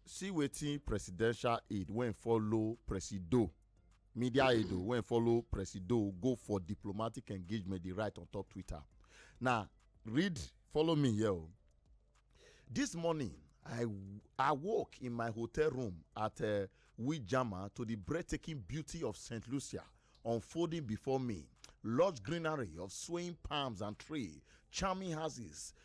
see wetin presidential aide wey follow presido media aide o wey follow presido go for diplomatic engagement dey write on top twitter na read follow me here o this morning i i woke in my hotel room at uh, wijama to the breathtaking beauty of st lucia unfolding before me lush greenery of swaying palms and tree, charming houses,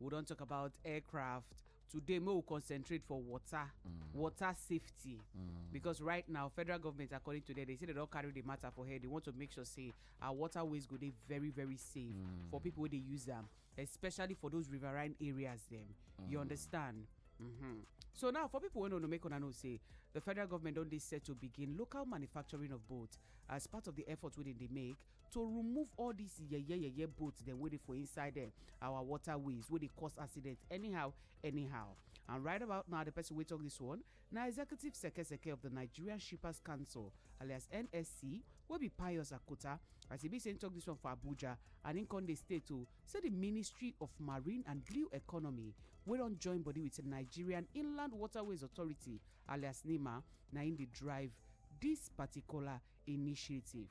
we don talk about aircraft today make we concentrate for water mm. water safety mm. because right now federal government according to them they say they don carry the matter for head they want to make sure say our waterways go dey very very safe mm. for people wey dey use am especially for those riverine areas dem you mm. understand Mm-hmm. So now, for people who don't know, make know say the federal government only set to begin local manufacturing of boats as part of the effort within they make to remove all these yeye yeye boats dem wey dey for inside dem our waterways wey dey cause accident anyhow anyhow and right about now the person wey talk this one na executive sekeseke of the nigerian shippers council alias nsc wey be pius akota as e be say im talk this one for abuja and im come dey state o say the ministry of marine and blue economy wey don join body with nigerian inland waterways authority alias nima na im dey drive this particular initiative.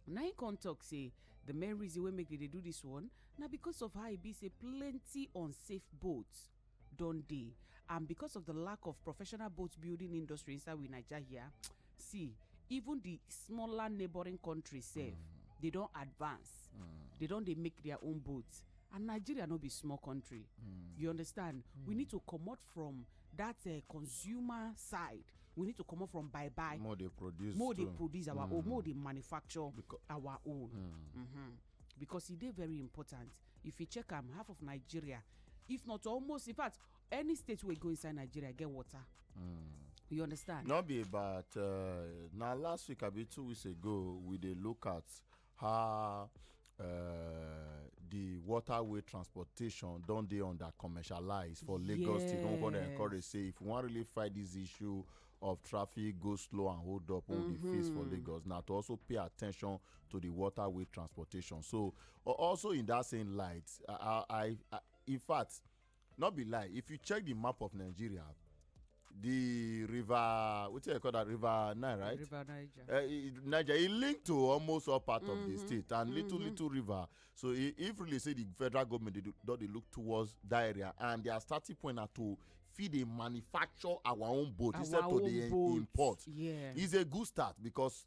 na im come talk say the main reason wey make dem dey do this one na because of how e be say plenty unsafe boats don dey and because of the lack of professional boat building industry inside we naija here see even the smaller neighbouring countries sef they don advance they don dey make their own boats and nigeria no be small country you understand we need to comot from that uh, consumer side we need to come up from buy buy more they produce more they produce our mm. own more they manufacture because, our own mm. Mm -hmm. because e dey very important if you check am half of nigeria if not almost in fact any state wey go inside nigeria get water mm. you understand no be about uh, na last week abi two weeks ago we dey look at how uh, the waterway transportation don dey under commercialized for lagos yes. state don come dey encourage say if we wan really fight this issue of traffic go slow and hold up wey mm -hmm. we face for mm-hmm. lagos na to also pay attention to the waterway transportation so also in that same light i i, I in fact no be lie if you check the map of nigeria the river wetin i call that river nile right river niger uh, eh, niger e link to almost all part mm -hmm. of the mm-hmm. state and mm -hmm. little mm-hmm. little river so e, if really say the federal government dey don dey look towards that area and their starting point na to fit dey manufacture our own boat our instead own to dey import yes. it's a good start because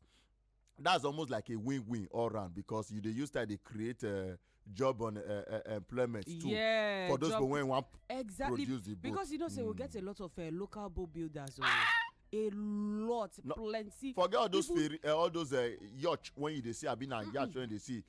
that's almost like a win-win all round because you dey use that dey create uh, job on uh, uh, employment too yeah, for those people wey wan exactly, produce the boat. because you know say mm. we get a lot of uh, local boat builders. Ah! a lot no, plenty. forget all those People, ferry uh, all those uh, yacht when you dey see abi na yacht when you dey see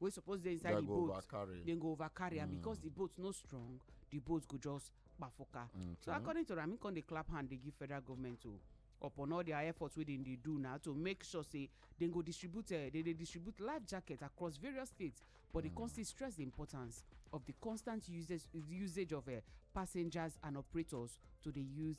wey suppose dey inside the boat dem go over carry am mm. because the boat no strong the boat go just kpafuka so according to am im come dey clap hand dey give federal government o upon all their efforts wey dem dey do now to make sure say dem go distribute eh, dem dey distribute life jacket across various states but dem come still stress the importance of the constant usage usage of eh, passengers and operators to dey use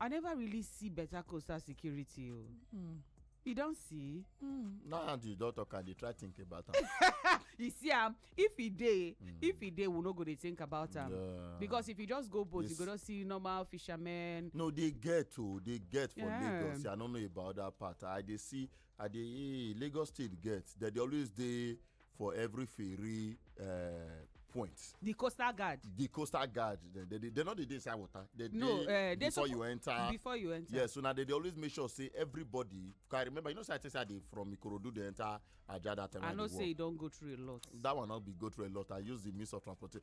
i never really see better coastal security o hmm. you don see hmm. now and you don talk and dey try think about am you see am um, if e dey hmm. if e dey we no go dey think about am um, because if you just go boat you go just see normal fishermen no dey get o oh, dey get for lagos i no know about that part i dey see i dey eh, lagos state get dem dey always dey for every ferry uh, point. the coastal guard. the coastal guard they they they, they no dey dey inside water. they no dey uh, before you enter. before you enter. yes so na they dey always make sure say everybody i remember you know say i tell say i dey from ikorodu dey enter ajah that time i, I know say you don go through a lot. that one no be go through a lot i use the means of transportation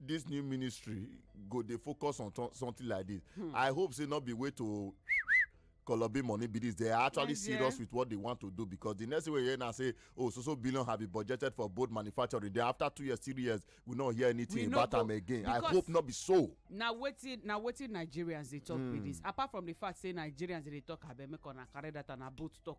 this new ministry go dey focus on something like this hmm. i hope say not be way to kolobi money be this they are actually yes, serious yeah. with what they want to do because the next way you now say oh so so billion have been budgeted for boat manufacturing then after two years three years we no hear anything about them again i hope not be so. na wetin na wetin nigerians dey talk mm. be hmm. this apart from the fact say nigerians dey talk abeg make una carry that and na boat talk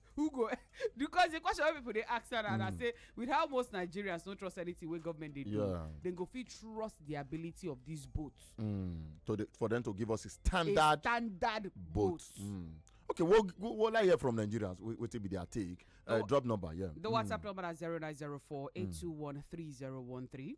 who go because the question wey people dey ask now na mm. say with how most nigerians no trust anything wey government dey do dem go fit trust the ability of these boats. Mm. to the, for them to give us a standard a standard boat. Mm. okay we'll, we'll, we'll hear from nigerians wetin be their take uh, drop number yeah. the whatsapp mm. number na zero nine zero four eight two one three zero one three.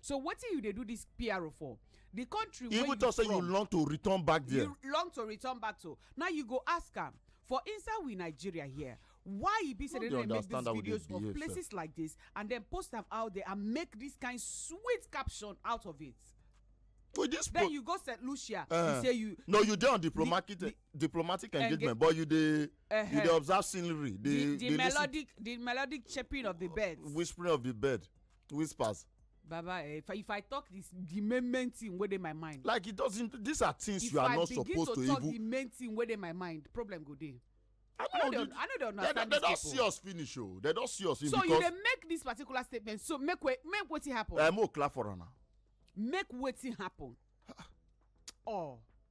so wetin you dey do this pro for the country wey you even talk say you long to return back there you long to return back to now you go ask am for inside we nigeria here why e be say dem dey make these videos of places like this and then post am out there and make this kind sweet caption out of it with this then you go st lucia you eh. say you no you dey on diplomatic eh, diplomatic engagement but you dey you uh-huh. dey observe scenery the melodic the melodic chirping of the birds whispering of the bird whispers baba eh, if i if i talk this the main main thing wey dey my mind. like it doesn't these are things if you are not supposed to even. if i begin to talk the main thing wey dey my mind problem go dey. i no dey i no dey understand these people. they don see us finish o oh. they don see us finish. so you dey make this particular statement so make we make wetin happen. ẹ eh, mo clap for am na. make wetin happen. oh.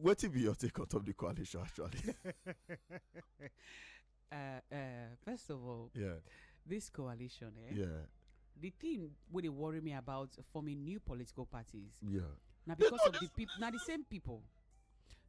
What will be your take on top of the coalition actually? uh, uh, first of all, yeah, this coalition, eh? yeah, the thing wey dey worry me about forming new political parties yeah na because of the people na the same people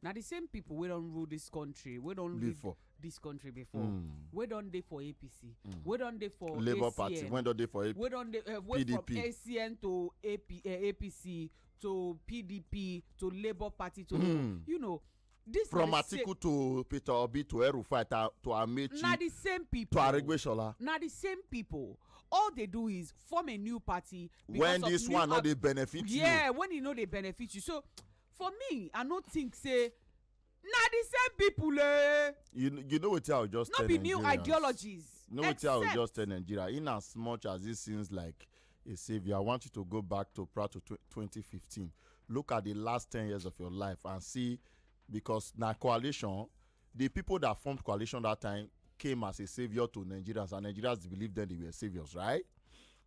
na the same people wey don rule this country wey don lead this country before hmm. wey don dey for apc hmm. wey don dey for labour party wey don dey for pdp wey don dey eh, from acn to apc eh, to pdp to labour party to mm. you know this from atiku to peter obi to erufai to amechi na the same people to aregbesola na the same people all they do is form a new party when this one no dey benefit you yeah when e no dey benefit you so for me i no think say na the same people eh you you know wetin i go just tell nigerians no be new ideologies no wetin i go just tell nigeria in as much as it seems like a savior i want you to go back to prior to 2015 look at the last 10 years of your life and see because na coalition the people that formed coalition that time came as a savior to nigerians and nigerians believed then they were saviors right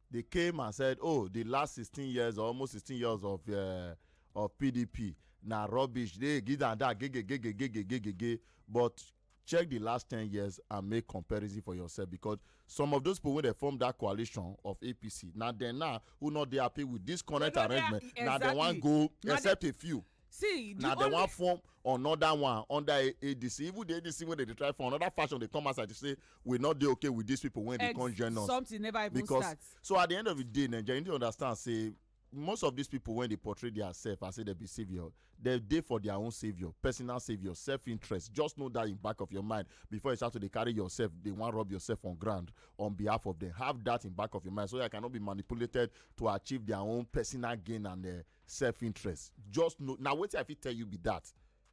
they came and said oh the last 16 years or almost 16 years of uh, of pdp na rubbish dey give am that gegegegegegegege but check the last ten years and make comparison for yourself because some of those people wey dey form that coalition of apc na dem now who no dey happy with this current arrangement na dem wan go except a few see the na dem wan form another one under adc even the adc wey dey try for another fashion dey come outside to say we no dey okay with these people wey dey come join us something never even start so at the end of the day nigeria you need to understand say most of these people when they portray themselves as say they be savior they dey for their own savior personal savior self-interest just know that in back of your mind before you start to dey carry yourself they wan rub yourself on ground on behalf of them have that in back of your mind so that you cannot be manipulated to achieve their own personal gain and uh, self-interest just know now wetin i fit tell you be that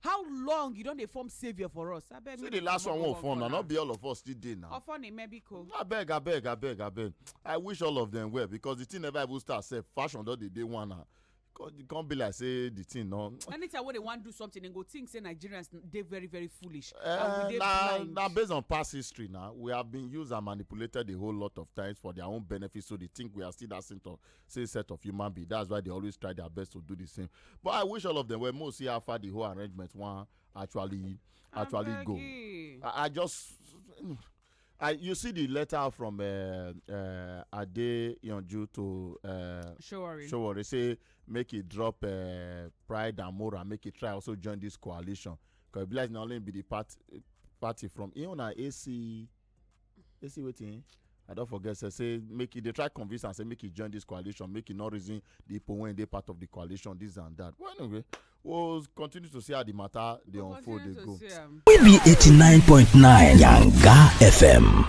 how long you don dey form saviour for us abeg see the last one wey form na not be all of us still dey now ofon imebiko abeg abeg abeg abeg i wish all of them well because the thing never even start sef fashion don dey dey one now e come be like say the thing no. anytime wey they wan do something dem go think say nigerians dey very very foolish. Uh, and na na based on past history na we have been used and manipulated a whole lot of times for their own benefit so they think we are still that same talk same set of human being that's why they always try their best to do the same but i wish all of them were more see how far the whole arrangement one actually actually go I, I, just I, you see the letter from uh, uh, Ade Yonju to uh, Showari. Showari say make it drop uh, Pride and Mora, make it try also join this coalition. Because Blaise not only be the part, party from Iona AC you see wetin i don forget say say make e dey try convince am say make e join this coalition make e no reason the people wey dey part of the coalition this and that well anyway we'll continue to see how the matter dey unfold dey go. we be eighty nine point nine yanga fm.